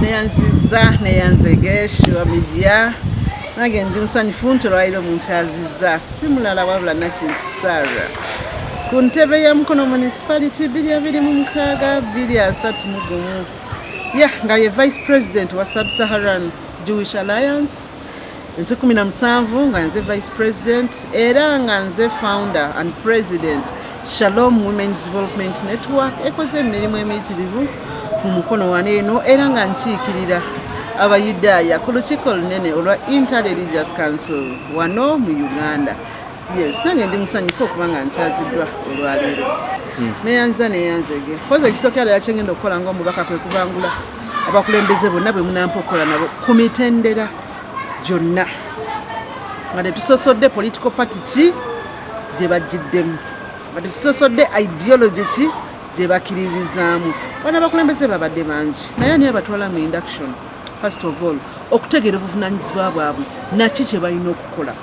neyanziza neyanzegeshiwa midia nange ndi musanyufu nti olwaliro omuntu aziza si mulala wabula nakintu sara ku ntebe ya mukono municipality biri abiri mu mukaaga biri asatu mu gumu ya nga ye vice president wa sub-saharan jewish alliance nsi kumi na musanvu nga nze vice president era nga nze founder and president shalom women development network ekoze emirimu emiyitirivu mu mukono wano eno era nga nkiikirira abayudaaya ku lukiiko lunene olwa interreligious council wano mu uganda Yes, nange ndi musanyufu okuba nga nkyaziddwa olwaleero hmm. neyanza neyanzege koza ekisooka era yakyengenda okukola ngaomubaka kwe kubangula abakulembeze bonna bwe munampa okukola nabo ku mitendera gyonna nga tetusosodde political party ki gye bajjiddemu nga tetusosodde ideology ki gye bakiririzaamu bana abakulembeze babadde bangi naye ani abatwala mu induction first of all okutegeera obuvunanyizibwa bwabwe naki kye balina okukola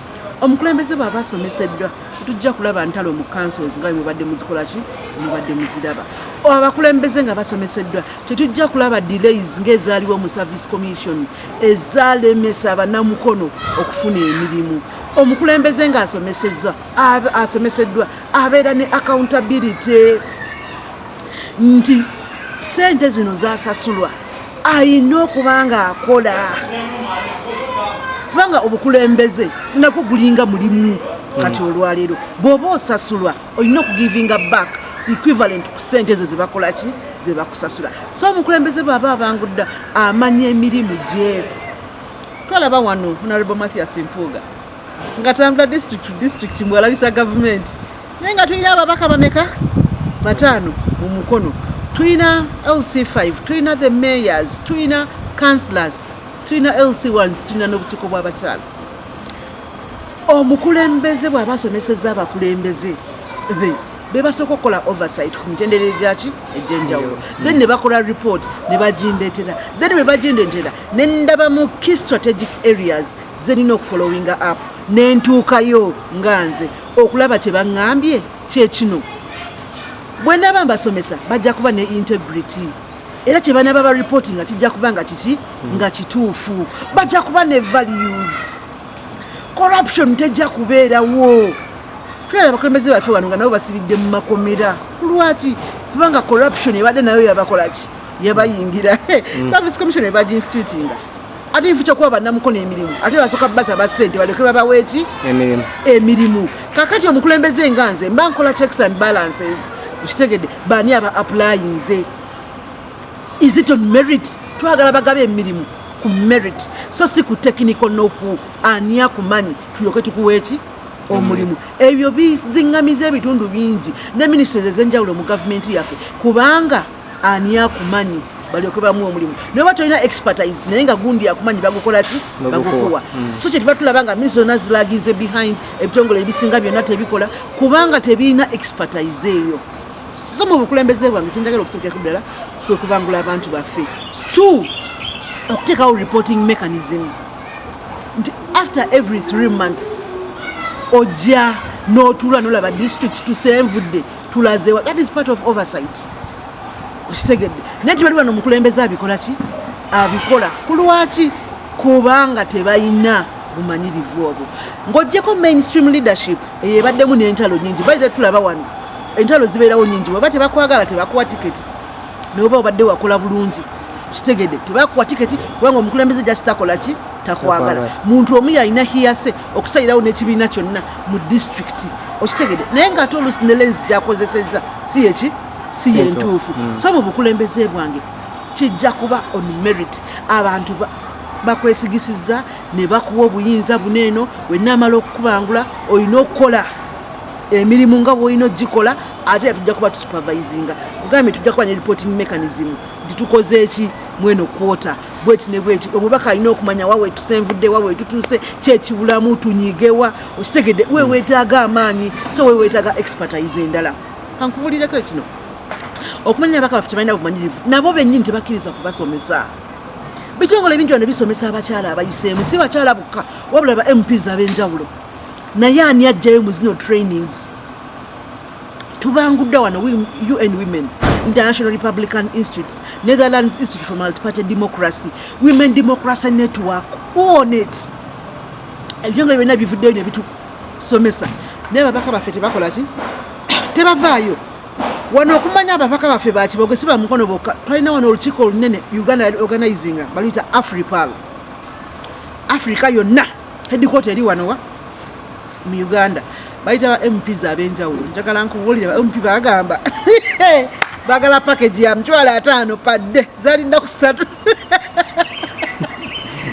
omukulembeze bwaba asomeseddwa tujja kulaba ntalo mu councils nga mubadde muzikolaki mubadde muziraba abakulembeze nga basomeseddwa tetujja kulaba delays ngaezaaliwo mu service commission ezalemesa abanamukono okufuna emirimu omukulembeze nga asomesezwa asomeseddwa abeera ne accountability nti sente zino zasasulwa alina okuba nga akola kubanga obukulembeze nagwo gulinga mulimu kati hmm. olwaleero bwoba osasulwa olina okugivinga back equivalent ku sente ezo zebakolaki zebakusasula so omukulembeze bwaba abangudda amanya emirimu gye twalaba wano honorable mathias mpuuga nga tambula district to district mbwalabisa gavumenti naye nga tulina ababaka bameka bataano mu mukono tulina lc5 tulina the mayors tulina councilors tulina lc1 tulina n'obukiiko bw'abakyala omukulembeze bw'aba asomeseza abakulembeze be bebasooka okukola oversight ku mitendera egyaki egyenjawulo then ne bakola report ne bagindeetera then bwe bagindeetera ne ndaba mu key strategic areas nze nina okufollowinga app nentuukayo nga nze okulaba kye baŋŋambye kyekino bwe naaba mbasomesa bajja kuba ne integrity era kye banaaba ba ripoti nga kijja kuba nga kiki nga kituufu bajja kuba ne values corruption tejja kubeerawo tulaba abakulembeze baffe wano nga nabo basibidde mu makomera kulwaki kubanga corruption ebadde nayo yabakolaki yabayingira mm. service commission ebaginstitutinga ate nfu kyokuba banamukono emirimu ate basoka basa basente baleke babaweki emirimu kakati omukulembeze nga nze mba nkola checks and balances kitegede bani aba applyinze is it on merit twagala bagabe emirimu ku merit so si ku technical noku ani akumanyi tulyoke tukuweki omulimu ebyo bizingamiza ebitundu bingi ne ministries ezenjawulo mu gavumenti yaffe kubanga ani akumanyi balyoke bamu omulimu naye oba tolina expertise naye nga gundi akumanyi bagukola ki bagukuwa mm. so kyetuva tulaba nga minisita zonna zilagize behind ebitongole ebisinga byonna tebikola kubanga tebirina expertise eyo so mu bukulembeze bwange kyenjagala okusobokerako ddala kwe kubangula abantu baffe two okuteekawo reporting mechanism nti after every three months ojja n'otuula nolaba district tusenvudde tulazewa that is part of oversight okitegedde naye tibali bano omukulembeze abikola ki abikola kulwaki kubanga tebalina bumanyirivu obwo ng'ogyeko mainstream leadership eyo ebaddemu n'entalo nyingi baithe tulaba wano entalo zibeerawo nyingi weba tebakwagala tebakuwa tiketi noba obadde wakola bulungi kitegede tebakuwa tiketi kubanga omukulembeze jasitakola ki takwagala muntu omu yalina hiyase okusalirawo n'ekibiina kyonna mu disitulikiti okitegede naye ngaate oluusi ne lenzi gyakozeseza si yeki si yentuufu mm. so mu bukulembeze bwange kijja kuba on merit abantu bakwesigisiza ne bakuwa obuyinza buno eno wenna amala okukubangula olina okukola emirimu nga bwolina ogikola ate tujja kuba tusupervisinga ogambye tujja kuba ne reporting mechanism nti tukoze eki mweno kwota bweti ne bweti omubaka alina okumanya wa wetuse nvudde wa wetutuuse kyekibulamu tunyigewa okitegedde wewetaaga amaanyi so wewetaaga expertise endala kankubulireko kino okumanya abaka baffe tebalina bumanyirivu nabo bennyini tebakkiriza kubasomesa bitongole ebingi bano bisomesa abakyala abayiseemu si bakyala bukka wabula ba mps ab'enjawulo naye ani ajjayo mu zino trainings tubangudde wano un women international republican institutes netherlands institute for multiparty democracy women democracy network onet ebyo nga byonna bivuddeyo ne bitusomesa naye babaka baffe tebakola ki tebavaayo wano okumanya ababaka baffe bakiboge si bamukono bokka twalina wano olukiiko olunene uganda organizinga baluyita afripal africa yonna headquarter eri wano wa mu uganda bayita ba mps ab'enjawulo njagala nkubuulire ba mp bagamba bagala package ya mtwalo ataano padde zalinda ku ssatu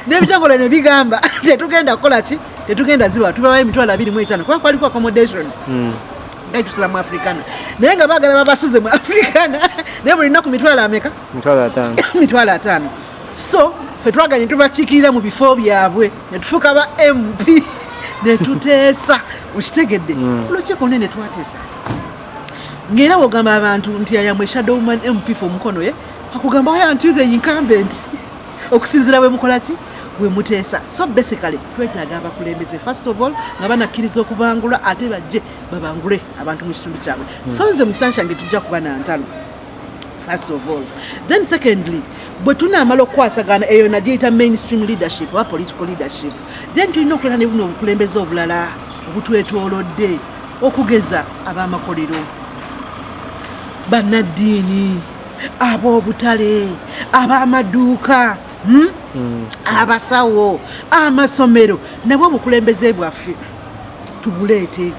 n'ebitongole ne bigamba tetugenda kukola ki tetugenda ziwa tubawa emitwalo abiri mu etaano kuba kwaliko accommodation hmm. naye tusula mu africana naye nga bagala babasuze mu africana naye buli nnaku mitwalo ameka mitwalo ataano so fe twaganye tubakiikirira mu bifo byabwe ne tufuuka ba mp ne tuteesa okitegedde hmm. olukiiko nene twateesa ng'era wogamba abantu nti ayamwe shadow man mp fe omukono ye akugamba waya nti the incumbent okusinzira bwe mukola ki bwe muteesa so basically twetaaga abakulembeze first of all nga banakkiriza okubangula ate bajje babangule abantu mu kitundu kyabwe hmm. so nze musanshange tujja kuba na ntalo first of all then secondly bwe tunaamala okukwasagana eyo nagyeyita mainstream leadership oba political leadership then tulina okuleta ne buno obukulembeze obulala obutwetoolodde okugeza ab'amakolero bannaddiini ab'obutale ab'amaduuka hmm? hmm. abasawo amasomero nabwo obukulembeze bwaffe tubuleete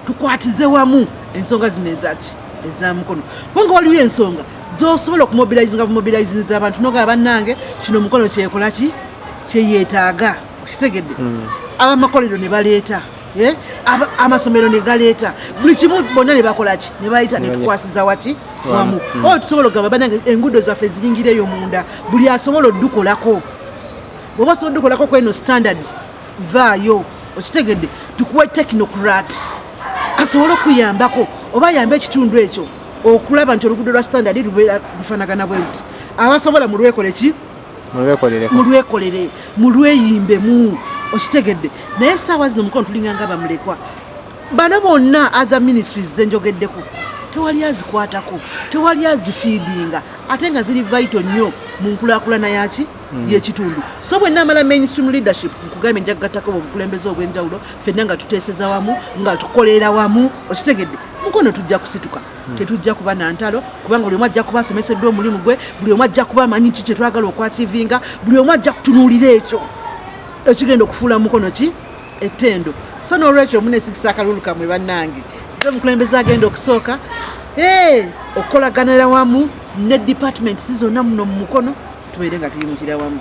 tukwatize wamu ensonga zino ezaki eza mukono kubanga waliwo ensonga zosobola okumobilizinga bumobilizinza abantu nogaa bannange kino mukono kyekola ki kyeyetaaga okitegedde hmm. abamakolero ne baleeta eh? amasomero ne galeeta buli kimu bonna ne bakola ki ne baleeta ne tukwasiza waki wamu hmm. oyo oh, tusobola okugamba bannange enguudo zaffe ziyingireyo munda buli asobola odukolako bwoba osobola odukolako kweno standard vaayo okitegedde tukuwe technocrat asobole okuyambako oba ayambe ekitundu ekyo okulaba nti oluguudo lwa standard lubeera lufanagana bwe nti abasobola mulwekole ki mulwekolere mulweyimbemu okitegedde naye esaawa zino omukono tulinganga bamulekwa bano bonna other ministries zenjogeddeko tewali azikwatako tewali azifiidinga ate nga ziri vaito nnyo mu nkulakulana yaki Mm. yekitundu so bwe namala mainstream leadership nkugambye nja kugattako obukulembeze obwenjawulo fenna nga tuteeseza wamu nga tukolera wamu okitegedde mukono tujja kusituka mm. tetujja kuba nantalo kubanga buli omu ajja kuba asomeseddwa omulimu gwe buli omu ajja kuba amanyi ki kyetwagala okwasivinga buli omu ajja kutunuulira ekyo ekigenda okufuula mukono ki ettendo so nolwekyo omunesigisa akalulu kamwe bannange ze omukulembeze agenda okusooka okukolaganaera wamu ne departments zonna muno mu mukono tubeere nga tuyimukira wamu